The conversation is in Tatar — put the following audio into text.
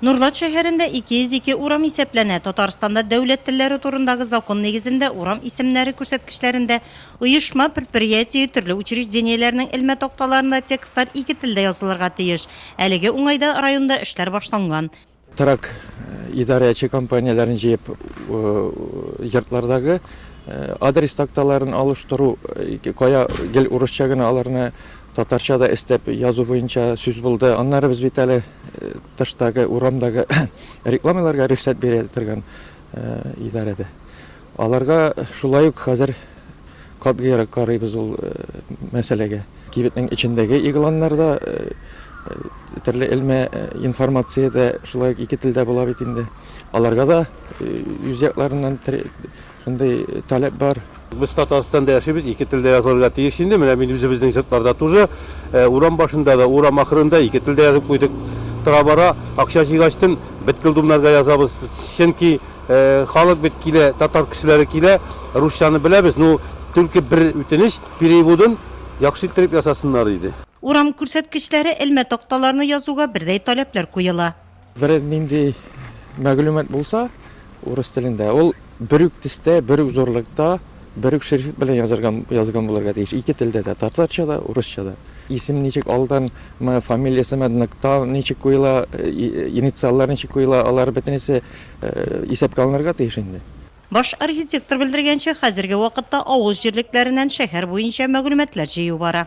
Нурлат шәһәрендә 202 урам исәпләнә. Татарстанда дәүләт телләре турындагы закон нигезендә урам исемнәре күрсәткечләрендә оешма, предприятие, төрле учреждениеләрнең элмә такталарында текстлар ике телдә язылырга тиеш. Әлеге уңайда районда эшләр башланган. Торак идарәче компанияләрен җыеп йортлардагы адрес такталарын алыштыру, кая гел урысча гына аларны Татарча да өстәп язу буенча сүз булды. Аннары без бит әле тыштагы, урамдагы рекламаларга рөхсәт бирә торган идарәдә. Аларга шулай ук хәзер катгыйрак карыйбыз ул мәсьәләгә. Кибетнең эчендәге игъланнарда төрле элмә информация дә шулай ук ике телдә була бит инде. Аларга да үз якларыннан Шундый таләп бар. Без Татарстанда яшибез, ике телдә язылырга тиеш инде. Менә мин үзебезнең йортларда тоже урам башында да, урам ахырында ике телдә язып куйдык. Тора-бара акча җыйгачтын беткел думнарга язабыз. Чөнки халык бит килә, татар кешеләре килә, русчаны беләбез, ну, түлке бер үтенеч, переводын яхшы иттереп ясасыннар иде. Урам күрсәткечләре элмә такталарына язуга бердәй таләпләр куела. Бер нинди мәгълүмат булса урыс телендә, ул бер үк төстә, бер үк зурлыкта, бер үк шрифт белән язырган, язган булырга тиеш, ике телдә дә, татарча да, урысча да. Исем ничек алдан, мы, фамилиясе, мы, нокта ничек куела, инициаллар ничек куела, алар бөтенесе исәпкә алынырга тиеш инде. Баш архитектор белдергәнчә, хәзерге вакытта авыл җирлекләреннән шәһәр буенча мәгълүматлар җыю бара.